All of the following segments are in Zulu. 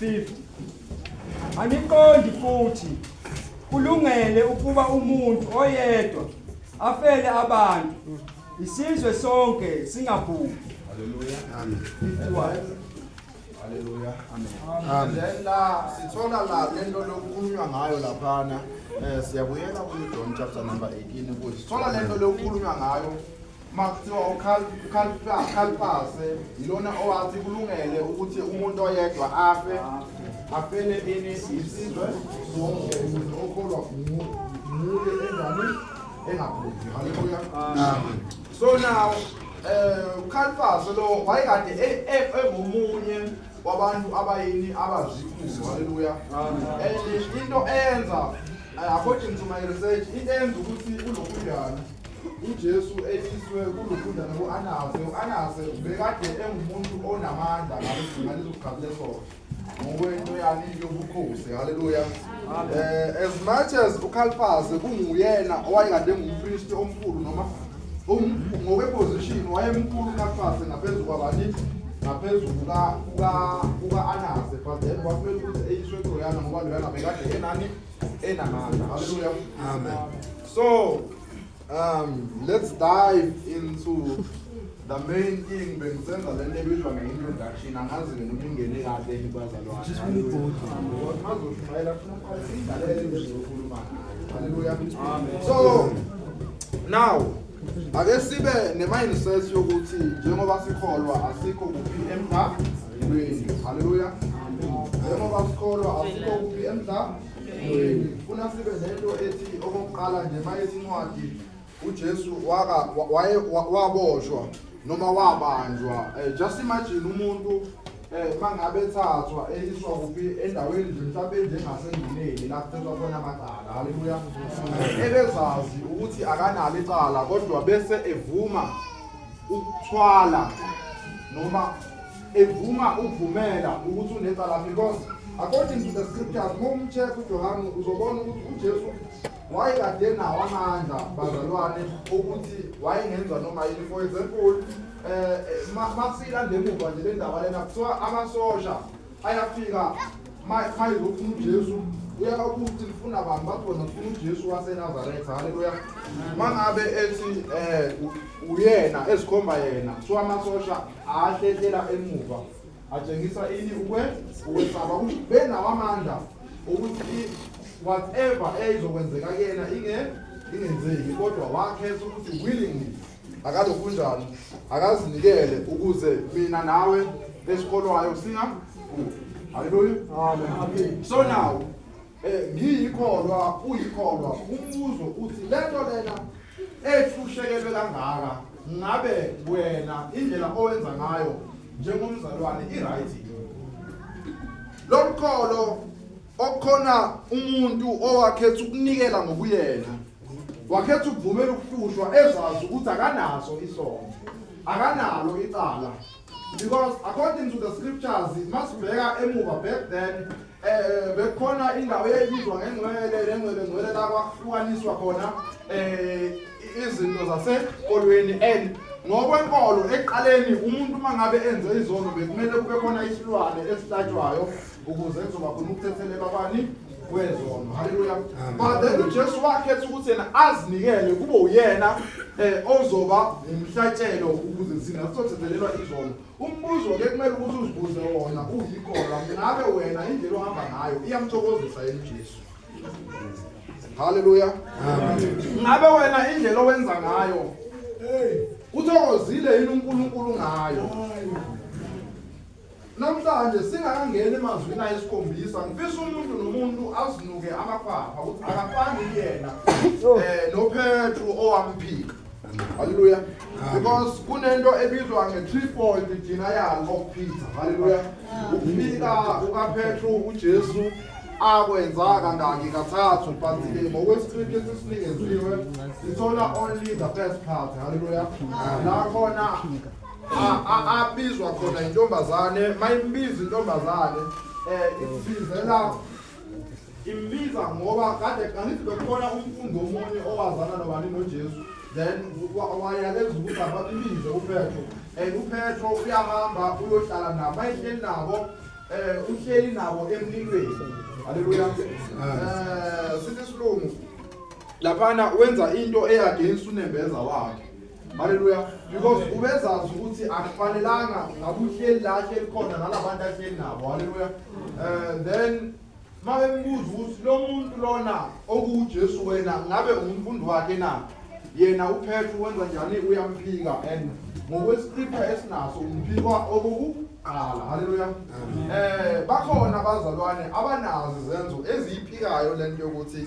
50 Angiqondi futhi kulungele ukuba umuntu oyedwa afele abantu isizwe sonke singabhubhi haleluya amen 51 Haleluya. Amen. Amen. La sithola la lento lokukhulunywa ngayo laphana. Eh siyabuyela ku John chapter number 18 ukuthi sithola lento lokukhulunywa ngayo Makuthiwa ukhalipase yilona owathi kulungele ukuthi umuntu oyedwa afe afele ini isizwe sonke umuntu okholwa muye enjani engabhubhi haleluya so now um ukhalipase lo wayekade e-, e-, engomunye wabantu abayini abazikulu haleluya and into eyenza eh, according to my research into eyenza ukuthi ulokhuyana uJesu eliswe kulufunda noku-Anase, u-Anase ubekade engumuntu onamandla ngaleso ngaleso sikhathi leso ngokwento yani yobukhosi haleluya eh as much as uKhalifase kunguyena owayekade engumpriest omkhulu noma um- ngokweposition wayemkhulu uKhalifase ngaphezu kwabani ngaphezu kuka kuka kuka Anase but then kwakumele ukuthi eyiswe kuloyana ngoba loyana bekade enani enamandla haleluya amen So, um, let's dive into the main thing bengisenza le nto ebizwa nge-introduction angazi mina ukuthi ingene kahle yini kwazalwaazoshumayela funaidalele into ezokhuluma ngayo halleluya so now ake sibe ne-mindset yokuthi njengoba sikholwa asikho kuphi emdlalweni halleluya njengoba sikholwa asikho kuphi emdlalweni Funa sibe nento ethi okokuqala nje mayethi incwadi uJesu waka waye waboshwa noma wabanjwa eh, just imagine umuntu eh mangabe ethathwa eyiswa kuphi endaweni nje mhlawumbe enjengasenduneni la kuthethwa khona amacala haleluya ebezazi ukuthi akanalo icala kodwa bese evuma ukuthwala noma evuma ukuvumela ukuthi unecala because according to the scriptures uma umcheck ujohane uzobona ukuthi ujesu wayekade nawo amandla bazalwane ukuthi wayengenza noma yini for example um eh, eh, masilande emuva nje le ndaba lena kuthiwa amasosha ayafika mayizofuna ujesu uyaka ukuthi lifuna abantu bathi wena ufuna ujesu wasenazaretha haleluya uma ngabe ethi um uyena ezikhomba yena kuthiwa amasosha ahlehlela emuva atshengisa ini ukwe ukwesaba ukuthi benawo amandla ukuthi whatever eyizokwenzeka kuyena inge ingenzeki kodwa wakhetha ukuthi willingly akalokunjani akazinikele ukuze mina nawe esikolwayo singa haleluya so now Eh, ngiyikholwa uyikholwa umbuzo uthi lento lena ethushekelwe kangaka ngabe wena indlela owenza ngayo njengomzalwane i-right lo mkholo okukhona umuntu owakhetha ukunikela ngokuyena wakhetha ukuvumela ukuhlushwa ezazi ukuthi akanaso isono akanalo icala because according to the scriptures masibheka emuva back then eh bekhona indawo eyayibizwa ngengcwele lengcwele ngcwele la kwahlukaniswa khona eh izinto zasekolweni and ngokwenkolo eqaleni umuntu mangabe enze izono bekumele kube khona isilwane esihlatshwayo ukuze kuzoba khona ukuthethelelwa kwani kwezono haleluya but then ujesu wakhetha ukuthi yena azinikele kube uyena um ozoba ngumhlatshelo ukuze thina sizothethelelwa izono umbuzo ke kumele ukuthi uzibuze wona uyikholwa ngabe wena indlela ohamba ngayo iyamthokozisa yena ujesu haleluya ngabe wena indlela owenza ngayo uthokozile yini unkulunkulu ngayo Namhlanje singakangeni emazwini ayisikhombisa ngifisa umuntu nomuntu azinuke amakhwapha ukuthi akafani kuyena um noPetru owamphika haleluya because kunento ebizwa nge-trifold idina yalo okuphitha haleluya ukuphika kukapetru ujesu akwenza kangaki kathathu but ngokwesiqinti esisinikeziwe sithola only the first part haleluya la khona abizwa khona intombazane mayimbiza intombazane eh ibizela imbiza ngoba kade kangithi bekhona umfundo omunye owazana nobani noJesu then wayaleza ukuthi ababibize uPetro and uPetro uyahamba uyohlala nabo bayihleli nabo eh uhleli nabo emlilweni haleluya eh sithi silungu laphana wenza into eyagenza unembeza wakhe Haleluya because ubezazi ukuthi akufanelanga ngabe uhleli la hleli khona nalabantu ahleli nabo haleluya eh then mabembuza ukuthi lo muntu lona okuuJesu wena ngabe umfundi wakhe na yena uPetru wenza njani uyamphika and ngokwescripture esinaso umphikwa okokuqala haleluya eh bakhona abazalwane abanazi zenzo eziyiphikayo lento yokuthi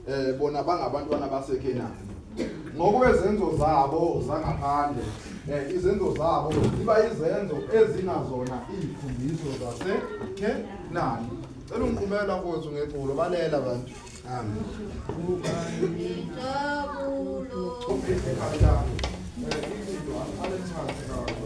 eh bona bangabantwana baseKenani ngokwezenzo zabo zangaphandle eh izenzo zabo ziba izenzo ezinazona izifundiso zaseKenani cela ungiqhumela mfowethu ngeculo balela bantu amen injabulo uphinde kanjani eh izinto alenchazi kahle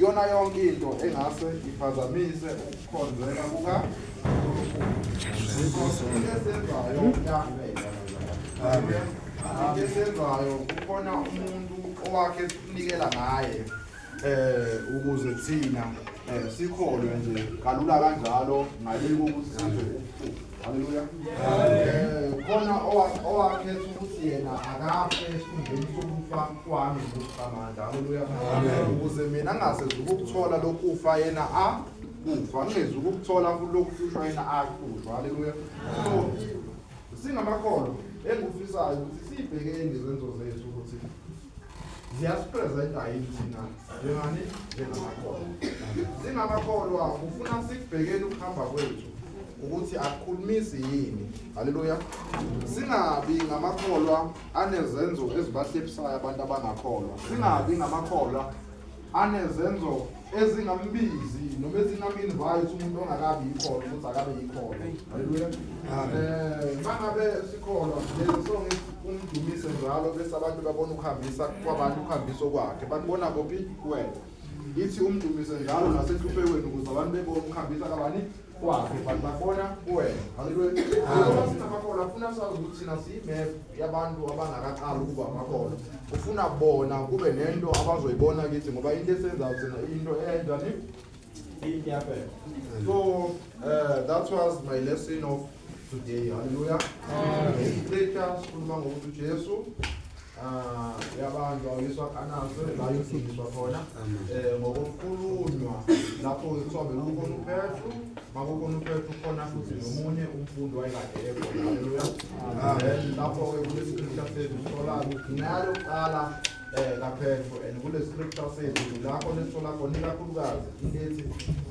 Yona yonke into engase iphazamise ukukhonzeka kuka esenzayo kukhona umuntu owakhe sinikela ngaye eh ukuze thina eh sikholwe nje kalula kanjalo ngale kokuthi size ukufuqa Haleluya. Eh, khona owakhetha ukuthi yena akafe esikhundleni sokufa kwami ngokuqamanda. Haleluya. Ukuze mina ngasezi ukuthola lokufa yena a kufa ngezi ukuthola kulokuhlushwa yena a kuhlushwa. Haleluya. So singamakholwa engufisayo ukuthi sibhekeni izenzo zethu ukuthi ziyasipresenta yini thina njengani njengamakholwa singamakholwa ufuna sikubhekeni ukuhamba kwethu ukuthi akukhulumisi yini haleluya singabi ngamakholwa anezenzo ezibahlepisayo abantu abangakholwa singabi ngamakholwa anezenzo ezingambizi noma ezingaminvite umuntu ongakabi yikhona ukuthi akabe yikhona haleluya um mangabe sikholwa lezi song umdumise njalo bese abantu babona ukuhambisa kwabantu ukuhambiso kwakhe bakubona kophi kuwena ithi umdumise njalo nasenhlupheweni ukuze abantu bebone ukuhambisa kabani kwakhe but babona kuwena haleluya sinamakholwa afuna sazi ukuthi thina siyimap yabantu abangakaqali ukuba amakholwa ufuna bona kube nento abazoyibona kithi ngoba into esenzayo thina into eyenjani iyaphela so uh, that was my lesson of today haleluya isiqeda sikhuluma ngokuthi ujesu ah, yabantu awuyiswa kanaso la yofundiswa khona um ngokukhulunywa lapho kuthiwa bekukhona uphethu makukhona uphethu khona futhi nomunye umfundi wayekade ekhona haleluya then lapho-ke kulesiqisha sethu sithola ukuthi nalo kuqala eh kaphepho and kule scripture sethu lapho nesithola khona ikakhulukazi into ethi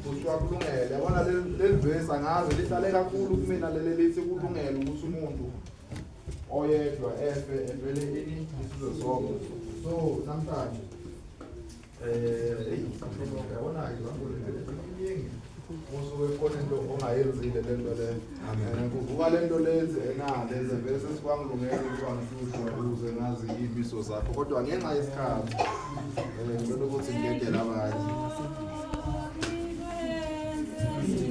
kuthiwa kulungele yabona leli verse angazi lihlale kakhulu kumina leli lithi kulungele ukuthi umuntu oyedwa efe evele ini isizwe sonke so namhlanje eh yabona izambulo iningi usuke khona into ongayenzile le nto leyo and kuvuka le nto lenzi enale zevele sesikwangilungela ukuba ngihlushwa ukuze ngazi iy'miso zakho kodwa ngenxa yesikhathi um ngicela ukuthi ngidedele abanye